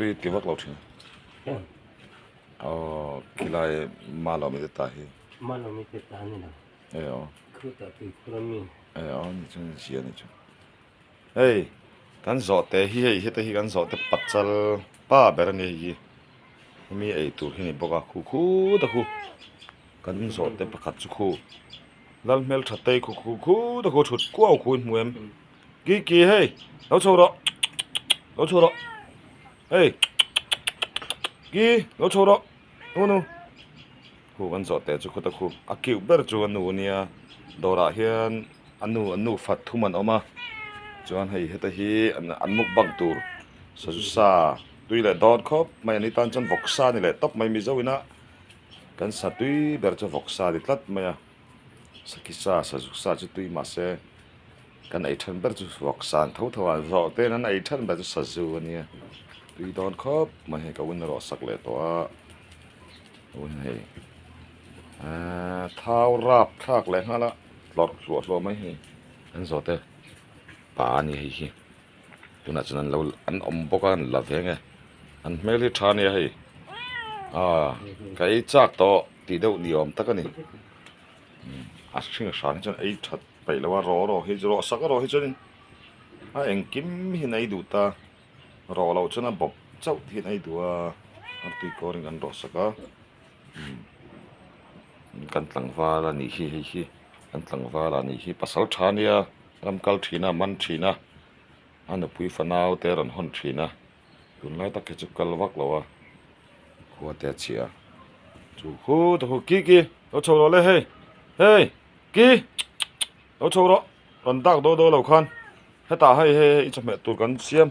Ri ti vak lo thin. Aww khilai malo mite ta hi. Malo mite ta ni lo. Ei aw. Khru ta tui khur a mi. Ei aw ni chu ni zia ni chu. Ei kan zawh te hi hei hete hi kan zawh te pachal pa ber ani hei hi. Hemi ei tur hi ni bawk a khu khu ta khu. Kan zawh te pakhat chu khu lal hmel thatte khu khu khu ta khu thut kuau khu in hmu em. Kiki hei lo chho rawh lo chho rawh hei ki lo chho rawh nu nu khu an zawh teh chu khuta khu a cute ber chu a nu a nia dawrah hian a nu an nu fat thum an awm a chuan hei heta hi an mukbang tur sazu sa tui leh dawn khawp mai an ni tan chuan vawk sa ni leh tawp mai mizo ina kan satui ber chu vawk sa ni tlat mai a. Sakisa Sajuksa chu tui mah se kan ei then ber chu ruaksan tho tho a, zawh ten an ei then ber chu Saju a nia, tui dawn khawp mai hei ka vun ruah sak leh tawh a, ka vun hei eeee thau rap thlak leh nghal a tlawrh hluah hluah mai hei an zawhte pa a nia hei hi, tunah chuan an lo an awm bawk a an la ve nge, an hmel hi tha a nia hei, aaa ka ei chak tawh. Tih deuh ni awm tak a ni. A hring hran hi chuan ei that peih lo a, rawh rawh hi chu rawh sak a rawh hi chuanin a engkim hian a ei duh ta, rawh loh chuan a bawp chauh tih hian a ei duh a, an tui kawrin kan rawh sak a, kan tlangval a nih hi hei hi, kan tlangval a nih hi pasal tha nia, ram kal thin a, a man thin a, a nupui fanaute a rawn hawn thin a. tun lai tak hi chu kal vak lo a khuate a chhia chu khu te khu ki ki lo chho rawh le hei hei ki lo chho rawh rawn dak daw daw lo khan hetah hei hei hei i chawhmeh tur kan siam.